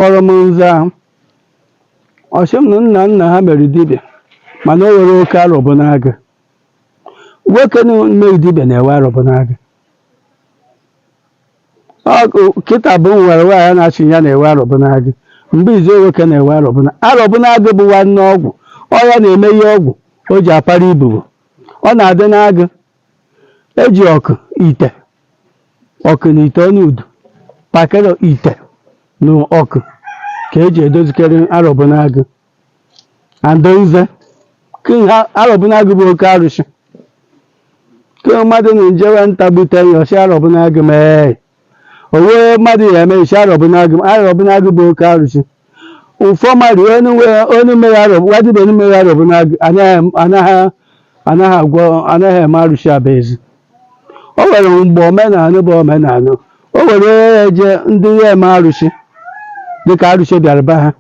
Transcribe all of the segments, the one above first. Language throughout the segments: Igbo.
kpọrọ m nza ahụ ọ sị m na nna nna ha mere dibịa mana o were oke arọbụ n'agụ nwoke mere dibịa na-ewe arọbụ n'agụ kịta bụ nwere nwaanyị na-achị ya na-ewe arọbụ n'agụ mgbe izu nwoke na-ewe arọbụ na arọbụ n'agụ bụ nwanne ọgwụ ọ ya na-eme ihe ọgwụ o ji akpara ibobo ọ na-adị n'agụ eji ọkụ ite ọkụ na ite ọnụ udu pakịrị ite na ọkụ ka eji edozikarị arọbụnagụ andonze arọbụnagụ bụ oke arụsị ke mmadụ na-ejewe nta gbute ya ọ sị arọbụnagụ mee o nwe mmadụ ya emesi arọbụ n'agụ arọbụ n'agụ bụ oke arụsị ụfọ mmadụ onye nwe- onye mere arọbụ wadịbe onye mere arọbụ n'agụ anaghị anaghị anaghị agwọ anaghị eme arụsị abaezi o nwere mgbe omenala bụ omenala o nwere onye ya eje ndị ya eme arụsị dịka arụsị bịara be ha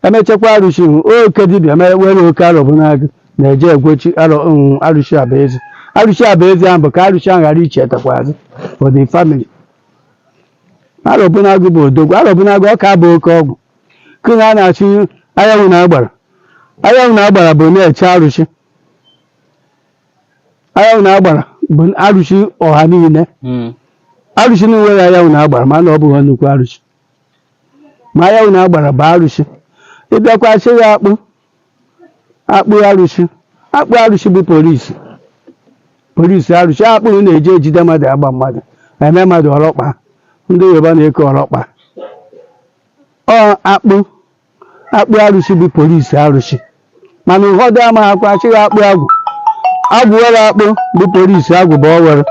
emechakwa arụsị ahụ oke dibịa mere were oke arọbụ n'agụ na-eje egbochi arọ mm, arụsị abaezi arụsị abaezi ahụ bụ ka arụsị ahụ ghara ichetakwa azụ for the family arọbụ n'agụ bụ odogwu arọbụ n'agụ ọ ka bụ oke ọgwụ kụna a na-achụ anyanwụ na agbara anyanwụ na agbara bụ na-eche arụsị anyanwụ na agbara bụ arụsị ọha niile Mm. arụsị na-enweghị anyanwụ na agbara mana ọ bụghị nnukwu arụsị ma anyanwụ na agbara bụ arụsị ịbịakwa sị ya akpụ akpụ arụsị akpụ arụsị bụ polisi polisi arụsị akpụ ahụ na-eji ejide mmadụ agba mmadụ eme mmadụ ọlọkpa ndị yoruba na-eke ọlọkpa ọ akpụ akpụ arụsị bụ polisi arụsị mana ụfọdụ amaghakwa a sị akpụ agwụ agwụ were akpụ bụ polisi agwụ bụ o were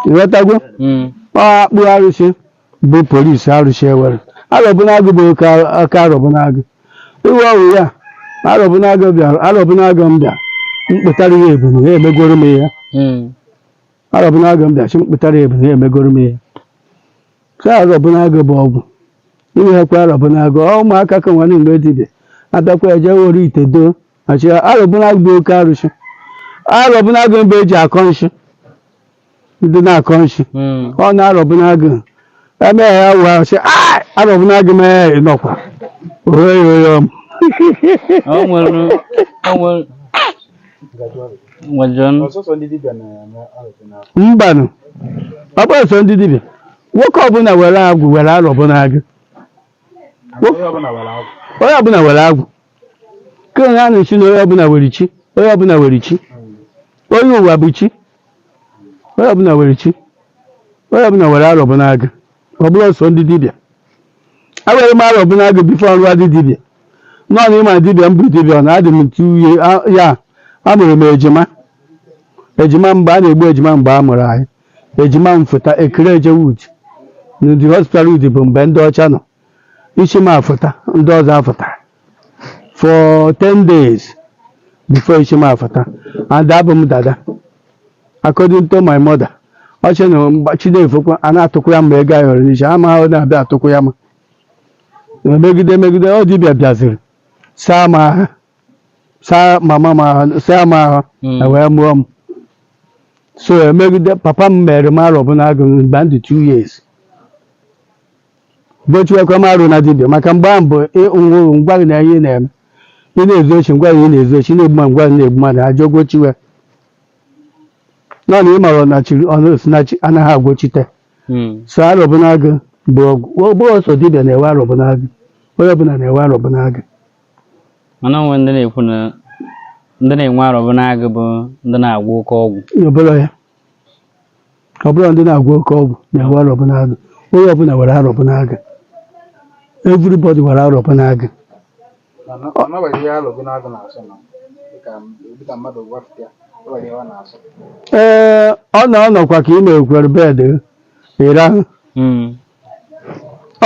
ịghọtago Mm. ọ akpụ arụsị bụ polisi arụsị ewere arọbụnagụ bụ oke aka arọbụnagụ iwe ọwụ ya arọbụnagụ bịara arọbụnagụ m bịa mkpụtara ya ebunu ha emegoro m ihe Mm. arọbụnagụ m bịa chi mkpụtara ya ebunu ha emegoro m ihe ka arọbụnagụ bụ ọgwụ iweghekwa arọbụnagụ ọ ụmụaka ka nwanne mgbe dibịa atakwa eje were ite doo achị arọbụnagụ bụ oke arụsị arọbụnagụ mgbe eji akọ nshị ndị na-akọ nshị Mm. ọ na arọbụnagụ eme ya wụ arụsị "Ah, arọbụnagụ mee ya nọkwa ohe ya ohe ọm o nwere o nwere mbanụ ọ bụrọ sọ ndị dibịa nwoke ọbụla were agwụ were arọbụnagụ onye ọbụla were agwụ ka onye a na-asị na onye ọbụla were chi onye ọbụla were chi onye ụwa bụ chi onye ọbụla were chi onye ọbụla were arọbụnagụ ọ bụrọ sọ ndị dibịa ewere m arọbụnagụ before m rụwadị dibịa nọọ na ịma dibịa m bụ dibịa na adị m ntu uye a- ya a mụrụ m ejima ejima mgbe a na-egbu ejima mgbe a mụrụ anyị ejima m fụta e kuru jewe Udi n'Udi hospital Udi bụ mbe ndị ọcha nọ isi m afụta ndị ọzọ afụta for 10 days before ishi m afụta and abụ m dada according to my mother ọ sị na mgbe chi na-efokwa a na-atụkwụya m ego ayọrọ n'isi m a na-abịa atụkwụya m megide megide ọ dibịa bịaziri saa m ahụ saa mama m ahụ saa m ahụ Mm. na wee mụọ m so emegide papa m mere m arọbụnagụ mgbe m dị 2 years gochiwekwa m arọ na dibịa maka mgbe ahụ bụ ị mụrụ nwa gị na ihe ị na-eme ị na-ezu oshi nwa gị a na-ezu oshi na-egbu ma nwa gị na-egbu mmadụ ajọ gochiwe nọ na ị mara ọnachiri ọ na-esi na chi anaghị agochite Mm. so arọbụnagụ bụ ọgwụ ọ bụghị sọ dibịa na-ewe arọbụnagụ onye ọbụla na-ewe arọbụnagụ mana o nwe ndị na-ekwu na ndị na-enwe arọbụnagụ bụ ndị na-agwọ oke ọgwụ ọ bụrọ ya ọ bụrọ ndị na-agwọ oke ọgwụ na-ewe arọbụnagụ onye ọbụla were arọbụnagụ everybody were arọbụnagụ ee ọ na ọ nọkwa ka i mekwara bed ị rahụ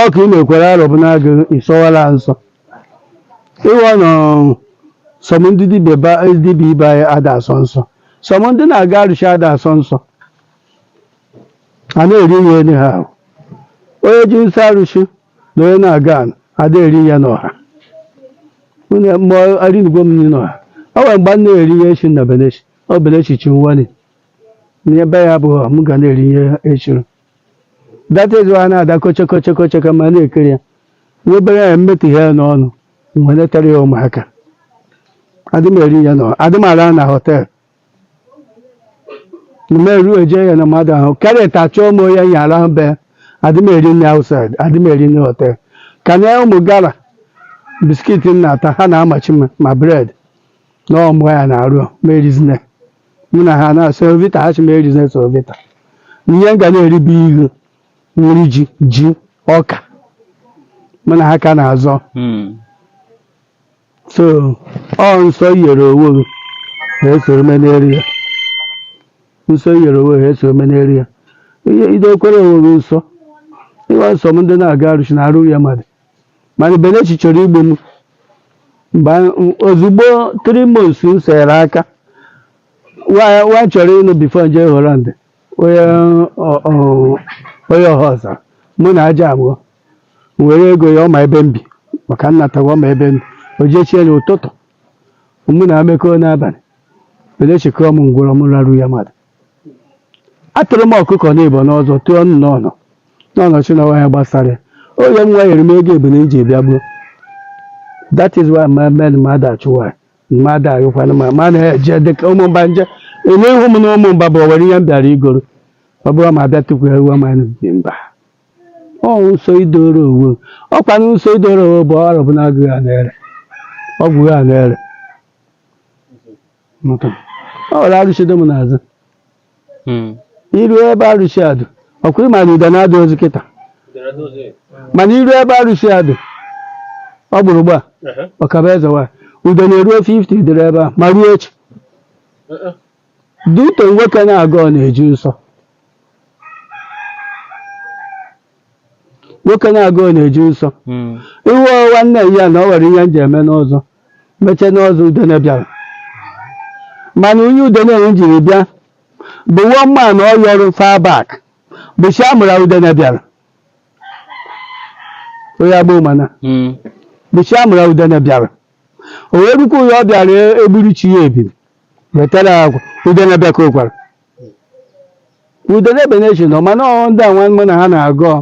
ọ ka i mekwara arọbụnagụ ị sọwara nsọ ị wụ na some ndị dibịa ba- dibịa ibe anyị ada asọ nsọ some ndị na-aga arụsị ada asọ nsọ a na-eri ihe enye ha ahụ onye ji nsọ arụsị na onye na-aga anụ ada eri ihe n'ọha nwunye m erinugo m nri n'ọha o nwere mgbe m na-eri ihe eshiri na benechi ọ benechi chi nwale na ebe ya abụghị m ga na-eri ihe eshiri that is why a na-ada kochokochokochoko ma na-ekiri ya nwa obere ya mmetụ ihe ya n'ọnụ mgbe netara ya ụmụaka adị m eri ya no adị m ara na hotel mgbe eruo eje ya na mmadụ ahụ karịa ta chọọ m onye ya arahụ be adị m eri nri outside adị m eri nri hotel ka na ụmụ gara biscuit m na-ata ha na-amachi m ma bread na ọmụ ya na-arụ m erizina mụ na ha na semovita ha shị m erizina semovita ihe m ga na-eri bụ ihu nri ji ji ọka mụ na ha ka na-azọ Mm. so ọ nsọ i yere owo gị ha esoro m eri ya nsọ i yere owo gị ha esoro m eri ya ihe ị dokwara owo gị nsọ ị wụ na some ndị na-aga arụshị na arụ ya mmadụ mana Benechi chọrọ igbu m mgbe anyị- ozugbo three months m sere aka nwa m chọrọ ịnụ before m jee Holland onye ọ- ọ- onye Ọhaọzara mụ na aja abụọ m were ego ya ọ ma ebe m bi maka nnatawa ọ ma ebe m bi o jesie n'ụtụtụ mụ na amekọọ n'abalị Benechi kụọ m ngwụrọ m raru ya mmadụ atụrụ m ọkụkọ n'ibo n'ụzọ tụọ nụ n'ọnụ n'ọnọchi na ya gbasara oge nwa nyere m ego ebule iji bịa gbuo that is why my men mmadụ achụwa mmadụ ayụkwana ma ma na-eje dịka ụmụmba nje ele ihu m na ụmụmba bụ owere ihe m bịara igoro ọ bụrụ ma bịa tupu ewu ma dị mba ọ nso idoro owo ọkwa na nso idoro owo bụ ọrụ bụ na agụghị a na-ere ọgwụ ha na-ere Nke a. o nwere arụsị dị m n'ezi Hmm. iru ebe arụsị a dị ọkwa ị ma na udene adịrọzi kịta mana iru ebe arụsị a dị ọ gburu gba ọkaba ezi nwa udene eruo 50 dịrị ebe a ma ruo echi duto nwoke na-agọ na-eji nsọ nwoke na-agọ na-eji nsọ Mm. ihu nwanne ya na ọ nwere ihe m ji eme n'ụzọ mechie n'ọzọ udene bịara mana onye udene jiri bịa bụ nwa mma na ọ yọrọ far back bọchị amụra udene bịara onye agboo mana Mm. bọchị amụra udene bịara o nwerekwa ihe ọ bịara egburu chi ya ebiri wetara agwa udene bịa ka o kwara udene ebe na-eji nọ mana ọ ndị a nwanne na ha na-agọ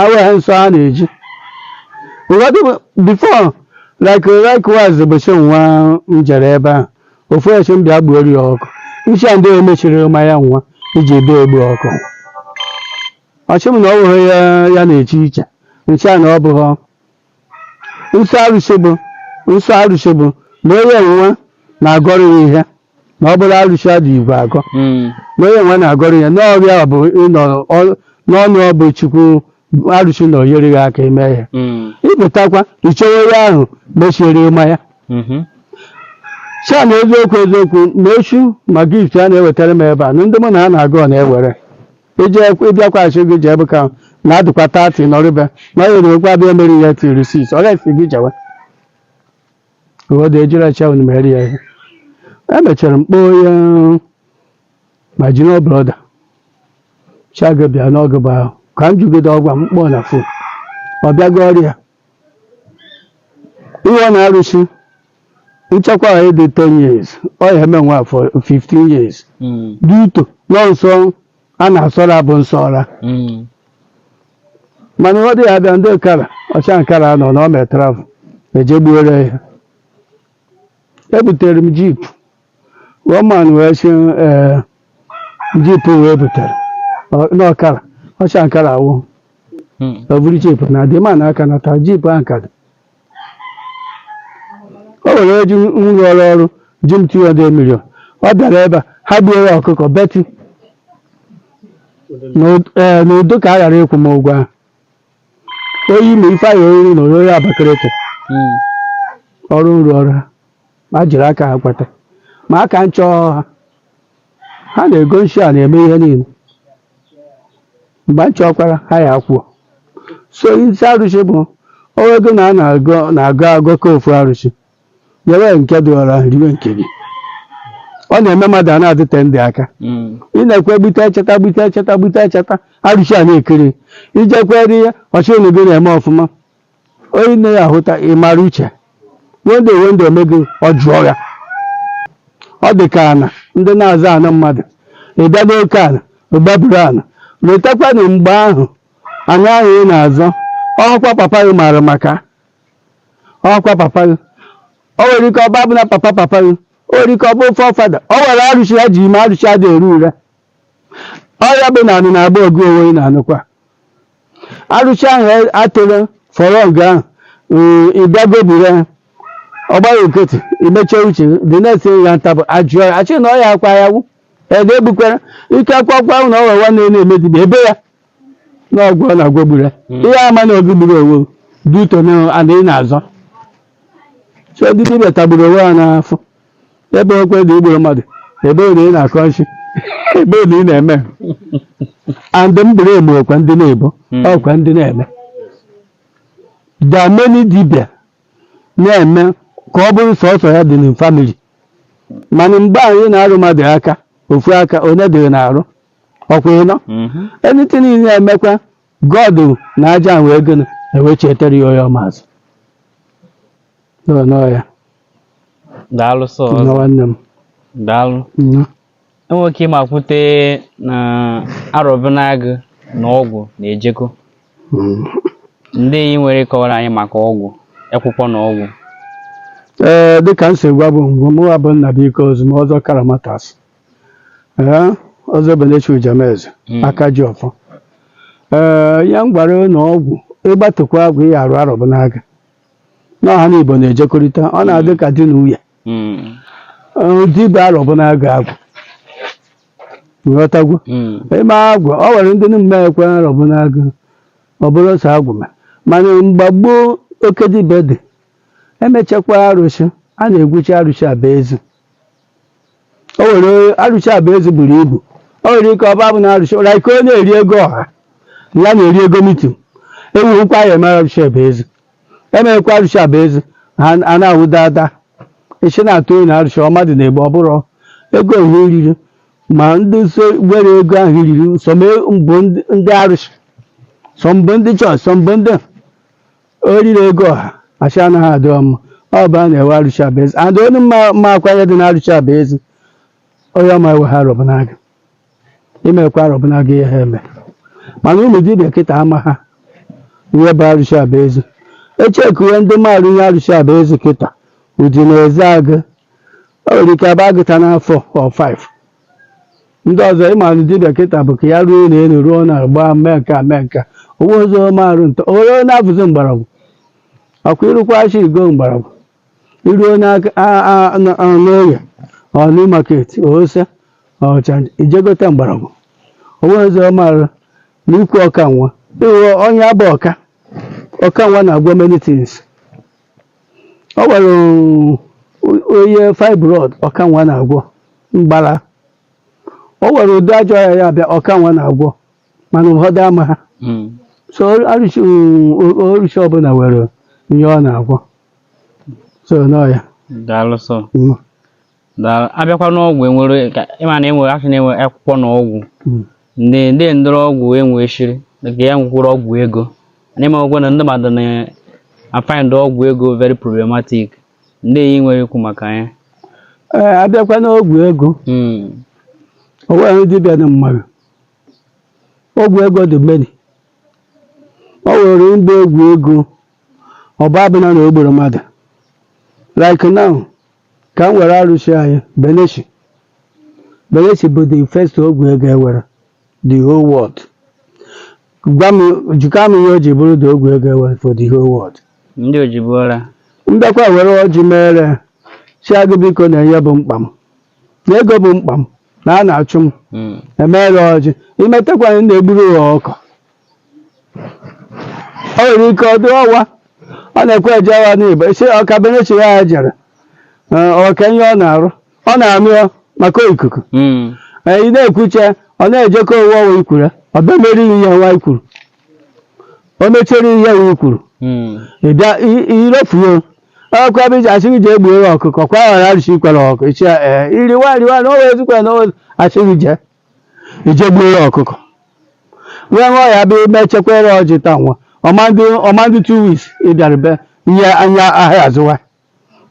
awa ha nsọ ha na-eji ụfọdụ before like likewise ụbọchị nwa m jere ebe ahụ ofu sị m bịa gbuoro ya ọkụkọ m sị ya ndị emechiri ma ya nwanyị jebe egbu ọkụkọ ọ sị m na ọ bụghị ihe ya na-eche iche m sị ya na ọ bụghị nsọ arụsị bụ nsọ arụsị bụ na onye nwa na-agọrọ ya ihe na ọ bụrụ arụsị adị igwe agọ Mm. na onye nwa na-agọrọ ya ihe ọ bụ ịnọ ọ- n'ọnụ ọ bụ chukwu arụsị na ọ nyere ya aka mee ya Mm. ịpụtakwa ichewe ya ahụ mechiere ịma ya Mhm. sị ya na eziokwu eziokwu na echu ma gift a na-ewetara m ebe a na ndị mụ na ha na-agọ na-ewere ije ịbịakwaghachi gị jee bụ ka na adịkwa tati nọrịbe na ọ yere okwu abịa mere ya tiri sis ọ gaghị gị jewe ụfọdụ ejiri acha unu mere ya ihe emechara m kpọọ ya ma jiri ọ brọda chago bịa n'oge bụ ahụ ka m jụgide ọgwa m kpọọ na phone ọ bịago ọrịa ihe ọ na arụsị nchekwa a dị 10 years ọ ya eme nwa afọ 15 years Mm. due to na nsọ a na-asọra bụ nsọ ọra Mm. mana ọ dị ya abịa ndị nkara ọcha nkara nọ na ọ mee travel eje gbuoro ya ebutere m jeep woman wee sị ee jeep wee butere ọ- n'ọkara ọcha nkara awụ Hmm. o buru jeep na dị ma na aka nata jeep ahụ ka dị o nwere ndị m rụrụ ọrụ ji m 200 million ọ bịara ebe a ha gbuo ya ọkụkọ beti N'ud- ee, n'udo ka a ghara ịkwụ m ụgwọ ahụ oyi ma ife ahụ oriri na oriri abakalete Hmm. ọrụ nrụ ọrụ ha ma jiri aka ha kweta ma aka nchọọ ha ha na-ego nshi a na-eme ihe niile mgbe m chọkwara ha ya kwuo so isi arụsị bụ ọwa ego na a na-agụ na-agụ agụ ka ofu arụsị nyere nke dị ọra riwe nke gị ọ na-eme mmadụ a na-adịte ndị aka Mm. ị na-ekwe gbute echeta gbute echeta gbute echeta arụsị a na-ekiri i jekwere ihe ọ shị na gị na-eme ọfụma Onye nne ya hụta ị mara uche one day one day o mee gị ọ jụọ ya ọ dị ka ana ndị na-azọ ana mmadụ ị bịa n'oke ana gbaburu ana letakwa na mgbe ahụ ana ahụ ị na-azọ ọkwa papa gị maara maka ọkwa papa gị o nwere ike ọ bụ abụ na papa papa gị o nwere ike ọ bụ forefather o nwere arụsị ha ji mee arụsị adị ere ure ọ ya bụ na ana na-agba ọgụ onwe ị na-anụkwa arụshị ahụ atụrụ fọrọ ọgụ ahụ mm, ị bịa goburu ya ọ gbara court i meche uche gị, the next thing ya ntabụ a jụọ ya a shị na ọya akwa ya wụ ede egbukwara ike akwakwa ahụ na ọwa nwanne ya na-eme dibịa ebe ya na ọgwụ ọ na-agwọ gburu ya Mm. ị ya ama na ọ gị gburu onwe due to na ana ị na-azọ so ndị dibịa tagburu onwe ha n'afụfụ e bokwa na i gburu mmadụ e boo na ị na-akọ nshi e boo na ị na-eme and m bụrụ eme ọkwa ndị na-ebo Mm. ọkwa ndị na-eme that many dibia na-eme ka ọ bụrụ sọsọ ya dị na family mana mgbe anyị na-arụ mmadụ aka ofu aka one dị na-arụ ọkwa ịnọ Mhm. anything ị na-emekwa God na a ja-eme gịnị ewechietere ya onye ọ masị n'ụnọ ya daalụ sọ ọzọ. nwanne m daalụ nna enwere ike ịma kwute na arọbinagụ na ọgwụ na-ejekọ Mm. ndị ihe ị nwere ịkọwara anyị maka ọgwụ akwụkwọ na ọgwụ ee dịka m si gwa gụ ngwa mụwa bụ nna bụ ike ozu ma ọzọ karamatas ee ọzọ benechi ujameze Mm. aka ji ọfọ ee ya m gwara na ọgwụ ị gbatekwa agwụ ị ya-arụ arọbụnagụ na ha n'ịbọ na-ejekọrịta ọ na-adị ka di na nwunye Mm. Ee, di bụ arọbụnagụ agwụ nghọtagwo Mm. ime agwụ ọ nwere ndị na-emeekwa arọbụnagụ ọ bụrụ sọ agwụ ma mana mgbe gboo oke dibịa dị emechakwa arụsị a na-egwuchi arụsị aba ezi o nwere arụsị aba ezi buru ibu o nwere ike ọ ba-abụ na arụsị ụra ike onye eri ego ọha na ya na-eri ego mitin ewughịkwa ya emere arụsị aba ezi emeghịkwa arụsị aba ezi ha a na-awụ dada isi na-atụ onye arụsị ọ mmadụ na-egbu ọ bụrụ ego ọha iriri ma ndị so were ego ọha iriri sọ mbụ ndị arụsị sọ mbụ ndị chọọchị sọ mbụ ndị oriri ego ọha achị anaghị adị ọma ọ bụ a na-ewe arụsị aba ezi and ọ na-amakwa ihe dị na arụsị aba ezi onye ọma ewe arọbụnagụ imekwa arọbụnagụ ihe ha eme mana ụmụ dibịa kịta amaha ihe bụ arụsị aba ezi echekuwe ndị maara ihe arụsị aba ezi kịta udi na ezeagụ o nwere ike abụ agụta na 4 or 5 ndị ọzọ ịma na dibịa kịta bụ ka ya rụọ ụlọ elu rụọ na agba mee nka mee nka onwezi ihe ọ ma arụ nta onye onye na-abụzi mgbọrọgwụ ọkwa ịrụkwa ashi igo mgbọrọgwụ iruo n'oge ọnụ maketi ose ọcha ijegote mgbọrọgwụ onwezi ihe ọ ma arụ na ikwu ọkanwa ịghọ onye abụ ọka ọkanwa na-agwọ many things o nwere onye fibroid ọkanwa na-agwọ mgbala o nwere ụdị ajọ ọya ya-abịa ọkanwa na-agwọ mana ụfọdụ amaha hmm. so osisi ọbụla nwere ihe ọ na-agwọ so n'ọya daalụ sọ abịakwa n'ọgwụ enwere ịma na enwere asị na-enwe akwụkwọ na ọgwụ hmm. ndị ndị ndọrọ ọgwụ enwe shiri nke ya nwekwara ọgwụ ego n'ime ọgwụ na ndị mmadụ na-afind ọgwụ ego very problematic ndị ihe ị nwere ikwu maka ya eh, abịakwa n'ọgwụ ego hmm. onweghị dibịa na-amara ọgwụ ego dị many ọ nwere ndị ọgwụ ego ọba abụla na o gburu mmadụ like now ka m were arụsị anyị beleshi beleshi bụ the first ọgwụ ego e were the whole world gwa m jụkwa m ihe o ji bụrụ the ọgwụ ego e were for the whole world ndị ojibuola m bịakwa were ọjị mere sị agwụ biko na ihe bụ mkpa m na ego bụ mkpa m na a na-achụ m Mm. e mere ọjị i metakwa na ị na-egburu ha ọkụ o nwere ike ọ dị ọwa ọ na-ekwe eje ọwa n'igbo isi ọka benechi ya ya jere ee, ọka ihe ọ na-arụ ọ na-amị ọ maka ikuku Mm. ee, ị na-ekwuche ọ na-ejekọ owu ọwa i kwuru ọ bịa mere ihe ya nwa i kwuru o mechere ihe ya i kwuru Mm. ị bịa i- irofuo ọkụ ebe iji achịghị ji egbu ewu ọkụkọ kwa ghara arụsị i kwere ọkụ ichi ya ee iriwa riwa na owe ezikwere na owe achịghị je i je gbuoro ọkụkọ wee ṅụọ ya bịa i mechekwara ọjị taa nwa ọ ma-adị ọ ma-adị two weeks ị bịara be nye anya ahịa azụwa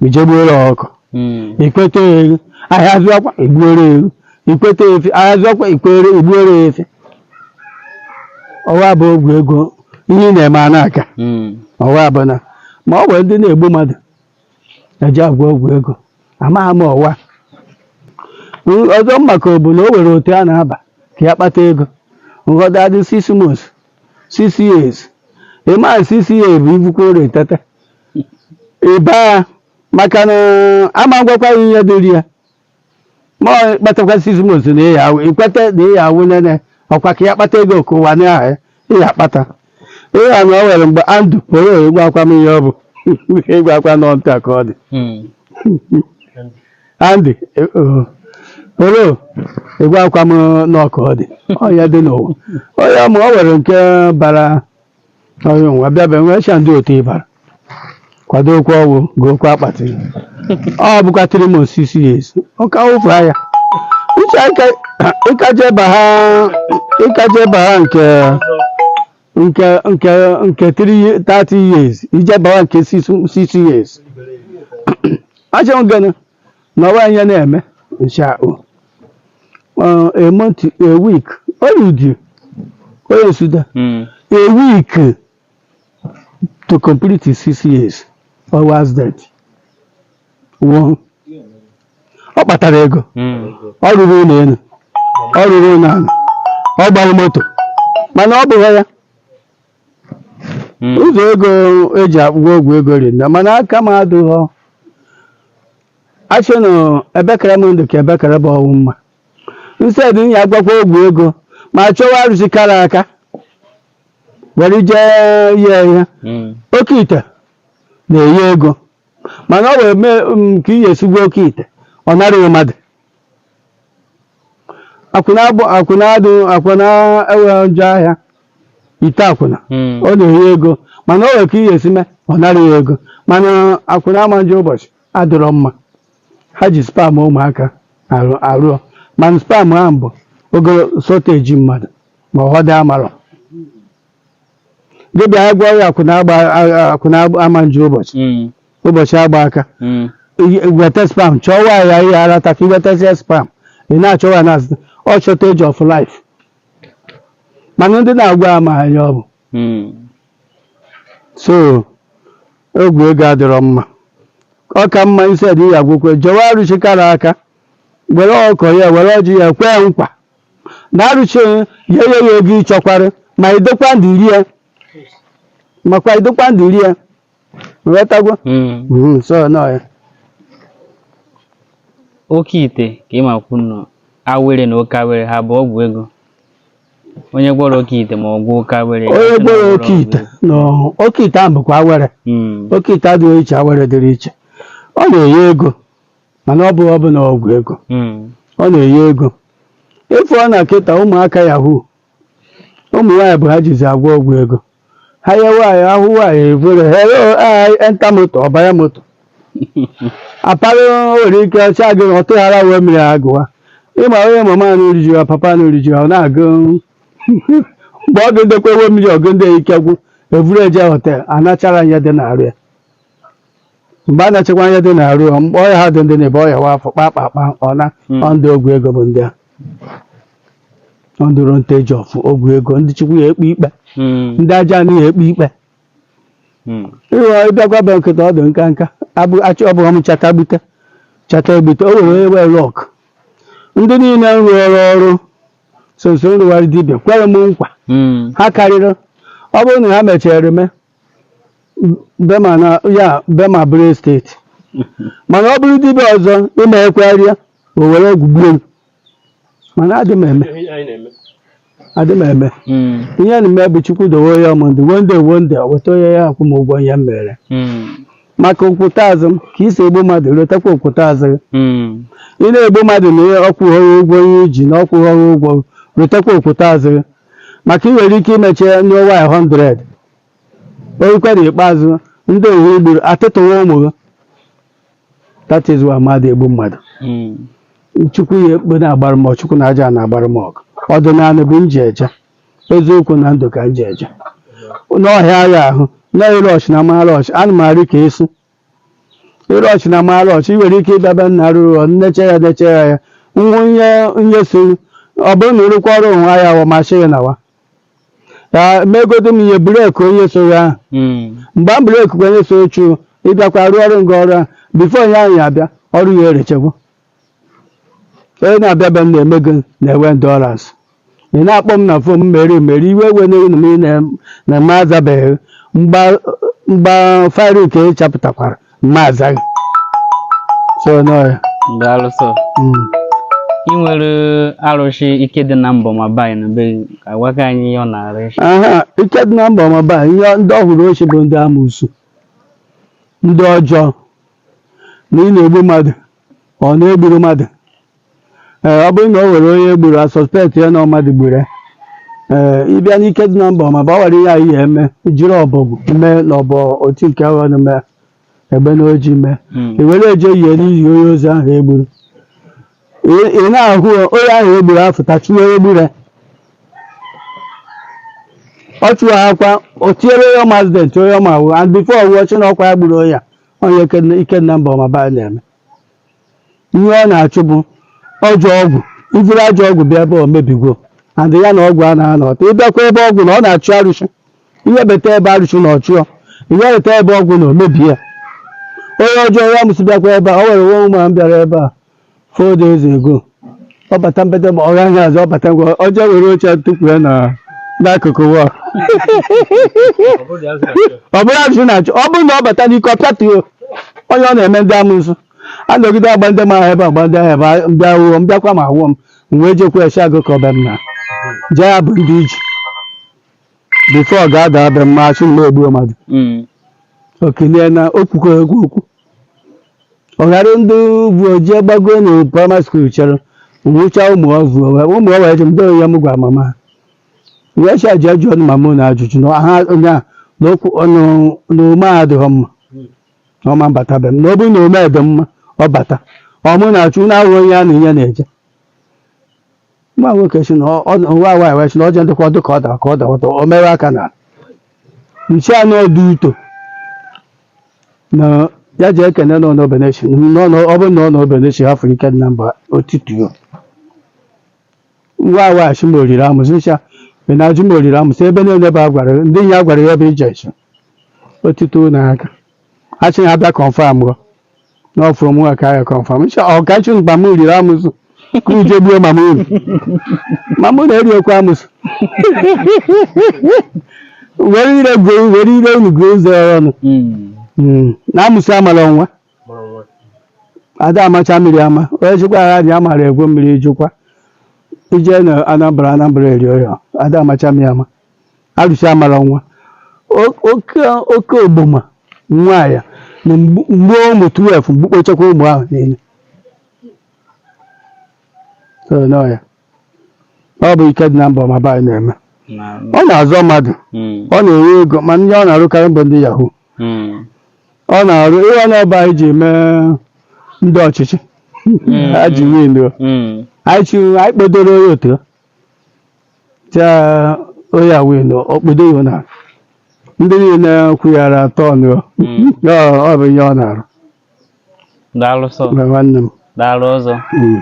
i je gbuoro ọkụkọ Mm. i kweta ewu ahịa azụwakwa i gbuoro ewu i kweta efi ahịa azụwakwa i kwere i gbuoro efi ọwa bụ ọgwụ ego ihe ị na-eme a na-aka Mm. ọwa bụ na ma ọ bụ ndị na-egbu mmadụ e ji agwọ ọgwụ ego amaghị m ọwa N- ọzọ m makwa bụ na o nwere otu a na-aba ka ị ya kpata ego nghọta adị six months six years ị ma six years bụ ibukwa ụra etete ị ba ya maka na a ma gwakwa ị ihe dịrị ya ma ọ kpatakwa six months na ị ya awụ i kweta na ị ya awụ nene ọkwa ka ị ya kpata ego ka ụwa na-ahụ ị ya kpata ịya na o were mgbe andụ pụrụ ị gwakwa m ihe ọ bụ ị gwakwa nọ nta ka ọ dị andị pụrụ ị gwakwa m nụ ka ọ dị ọ ya dị n'ụwa onye ma o were nke bara onye nwa bịa be nwee cha ndị otu ị bara kwado okwu ọnwụ gị okwu akpati ọ bụkwa three months six years ụka ụfụ ahịa uche ike- ị ka je ba ha ị ka je ba ha nke nke nke nke three ye- 30 years i je ba ha nke six six years achọ gana na ọwa ihe na-eme ncha o Uh, a month a week onye udi onye nsude Mm. a week to complete his six years ọ was dead nwụọ ọ kpatara ego Mm. ọ rụrụ ụlọ elu ọ rụrụ ụlọ ala ọ gbara moto mana ọ bụghị ya Mm. ụzọ ego eji akwụgwọ ọgwụ ego dị nda mana aka m adụghọ achị na ebekere m ndụ ka ebekere bụ ọnwụ mma instead ị ya-agwọkwa ọgwụ ego ma chọwa arụsị kara aka were jee ihe ihe Mm. oke ite na-enye ego mana o nwee ka ị ga-esi gwọọ oke ite ọ nara gị mmadụ akwụna abụ akwụna adụ akwụna enweghị njọ ahịa ite akwụna Mm. ọ na-enye ego mana o nwere ka ị ya-esi mee ọ nara ya ego mana akwụna ama njọ ụbọchị adịrọ mma ha ji sperm ụmụaka arụ ọrụ mana sperm ahụ bụ ogolo shortage mmadụ ma ụfọdụ amarọ gị bịa gwa ya akwụna agba akwụna ama njọ ụbọchị Mm. ụbọchị agba aka Mm. i weta sperm chọwa ya ihe ara ta ka i wetasịa sperm ị na-achọwa ya na-azụta ọ shortage of life mana ndị na-agwọ ya ama ihe ọ bụ Mm. so ọgwụ ego adịrọ mma ọ ka mma instead ị ya-agwọkwa chọwa arụshị kara aka were ọkụkọ ya were ọjị ya kwee nkwa na arụshị ya enye ya ego ị chọkwara ma ị dịkwa ndụ rie makwa ị dịkwa ndụ rie ghọtagwo Mm. Mhm, so nọ ya oke ite ka ị makwanụ awere na oke awere ha bụ ọgwụ ego onye gwọrọ oke ite ma ọ gwọọ oke awere onye asị na gwọrọ ọ oke gwọrọ ite ọgwụ ego. na oke ite ahụ bụkwa awere Mm. oke ite dị iche awere dịrị iche ọ na-enye ego mana ọ bụghị ọbụla ọgwụ ego Mm. ọ na-enye ego ị fụọna kịta ụmụaka yahoo ụmụ nwaanyị bụ ihe ha jizi agwọ ọgwụ ego ha ya nwaanyị ahụ nwaanyị efere hello hi enter moto ọ bara moto apara nwere ike ọcha gị ọ tụghara wee mmiri agụwa ịma onye mama na oriju ya papa na oriju ya ọ na-agụ mgbe ọ ga-edekwa ewe mmiri ọgụ ndị ike gwụ evuru eje hotel a nachara ihe dị n'arụ ya mgbe a nachakwa ihe dị n'arụ ọ mkpọ ọhịa ha dị ndị na-ebe ọhịa wa afọ kpa kpa kpa ọ na Mm. ọ ndị ọgwụ ego bụ ndị a ọ ndị ro nteji ọfụ ọgwụ ego ndị Chukwu ya-ekpe ikpe Mm. ndị ajaana ya-ekpe ikpe Mm. ịghọ ịbịakwa be m kịta ọ dị nka nka abụ achị ọ bụghị m chata gbute chata egbute o were ewe lọk ndị niile m rụọrọ ọrụ sonso nrụgharị dibịa kwere m nkwa Mm. ha karịrị ọ bụrụ na ha mechara eme be m a na ya be m a bụrụ estate mana ọ bụrụ dibịa ọzọ i mee ekwegharịa o were ọgwụ gbuo m mana adị m eme adị m eme Mm. ihe m na-eme bụ Chukwu dowe ya ndụ one day one day o weta ọ ya-akwụ m ụgwọ ihe m mere Mm. maka o kwute azị m ka i si egbu mmadụ rotakwa o kwute azị gị Mm. ị na-egbu mmadụ na ihe ọ kwụghọrọ ụgwọ ihe i ji na ọ kwụghọrọ ụgwọ rotakwa o kwute azị gị maka ị nwere ike imeche n'ụwa 100 oyikwa na ikpeazụ ndị ahụ i gburu atịtụwa ụmụ gị that is why mmadụ egbu mmadụ Mm. chukwu ya ekpe na-agbara m ọgụ, chukwu na aja na-agbara m ọgụ ọdịnala bụ nji eje eziokwu na ndụ ka nji eje n'ọhịa agha ahụ na-ere ọchị na mara ọchị ana m arị ka esi ịrụ ọchị na mara ọchị i nwere ike ịbịaba nna rụọ ọrụ na-eche ya na-eche ya ya ngwa nye onye so ọ bụrụ na ịrụkwa ọrụ onwe ya wa m asị gị nawa ya megodo m ihe break onye so ya ahụ Mm. mgbe m break kwa onye so chụ ịbịakwa rụọ ọrụ nga ọrụ ahụ before onye ahụ ya abịa ọrụ ya erechekwa onye na-abịa be m na-eme gị na-enwe endurance ị na-akpọ m na phone m mere mere iwe ewena gị na- na m azabeghị mgbe m ga free ka ị chapụtakwara m azaghị so nọ ya ndị arụsị Mm. ị nwere arụsị ike dị na mba ọmaba dị na be gị ka gwa ka anyị ihe ọ na-arụ echi aha ike dị na mba ọmaba ihe ndị ọhụrụ ochie bụ ndị amụsụ ndị ọjọọ na ị na-egbu mmadụ ọ na e gburu mmadụ ee ọ bụrụ na o nwere onye e gburu a suspect ya na ọ mmadụ gburu ya ee ịbịa n'ike dị na mba ọmaba o nwere ihe anyị eme jiri ọbọgwụ mee na ọbọ otu nke ahụ ọnụ mee egbe na oji mee i were eje yie n'ili onye ozu ahụ e gburu Ị- ị na-ahụ onye ahụ e gburu afụta chụwa onye gburu ya ọ chụwa akwa o tinyere onye ọma accident onye ọma wụ and before ọ nwụọ ọ sị na ọkwa ya gburu onye a onye ike na- ike dị na mba ọmaba a na-eme ihe ọ na-achụ bụ ọjọ ọgwụ i jiri ajọ ọgwụ bịa ebe a o mebigwo and ya na ọgwụ a na-anọta ị bịakwa ebe a ọgwụ na ọ na-achụ arụsị i webata ebe a arụsị na ọ chụọ i webata ebe a ọgwụ na o mebie ya onye ọjọọ ya amụsụ bịakwa ebe a o nwere woman bịara ebe a four days ago ọ bata mbata ma ọ gaghị azụ ọ bata ngwa ọ jee were oche tukwua na n'akụkụ wa ọ bụrụ ajụjụ na-achụ ọ bụrụ na ọ bata n'ike ọ pịatuo onye ọ na-eme ndị amụsụ a nọgide agba ndị mara ebe agba ndị ahụ ebe a- m bịa awụọ m bịakwa ma awụọ m m wee jekwa esi agụ ka ọba m na jee ya bụ ndị iji before ọ ga-abata be m a sị na m egbu mmadụ Mm. okilie na okwukọ egwu okwu ọ ghara ndị bụ oji gbago na primary school chere nwụcha ụmụ ọvụ wee ụmụ ọvụ eji ndị onye m gwa mama ha wee cha ji ajụ ọnụ mama na ajụjụ na ha onye a na okwu ọnụ na ume a adịghị mma na ọ ma abata be m na ọ bụrụ na ume dị mma ọ bata ọ mụ na-achụ na ahụ onye a na ihe na-eje nwa nwoke sị na ọ- ọ- nwa nwaanyị wee sị na ọ je ndịkwa ọdụ ka ọ dara ka ọ dara ọtọ o mewe aka na nche a n'ọdụ uto na ya ji ekene nọ n'obenechi na ọ nọ- ọ bụrụ na ọ nọ obenechi hafụ ike dị na mba otituo nwa nwaanyị sị ma o riri amụsụ ncha ị na-ajụ ma o riri amụsụ ebe niile bụ agwara ndị ya gwara ya bụ ije nche otito na aka achị na abịa kọnfam gọ n'ọfụ mụ ka ya kọnfam ncha ọkachi mama riri amụsụ ka uje gbuo mama unu mama unu eriokwa amụsụ were ire gụọ were ire unu gụọ ụzọ ọnụ Mm. Mm, na amụsụ amala nwa mụrụ nwa ada amacha mmiri ama onye chịkwa agha dị ya mara egwu mmiri jikwa ije na anambra anambra eri ya ada amacha mmiri ama arụsị amara nwa O- oke oke ogboma nwa ya na mgbu mgbu ụmụ 12 gbukpọchakwa ụmụ ahụ niile So, n'ọya ọ bụ ike dị na mba ọmaba anyị na-eme ọ na-azọ mmadụ ọ na-enye ego ma ndị ọ na-arụkarị bụ ndị yahoo ọ na-arụ ihe ọ na-ebe anyị ji mee ndị ọchịchị ha ji win o anyị chiri anyị kpedoro onye otu taa onye a win o kpedo ya na ndị niile na-ekwu ya ara atọ ọnụ o. Ya ọ- ọ bụ ihe ọ na-arụ daalụ sọ na nwanne m daalụ ọzọ Mm.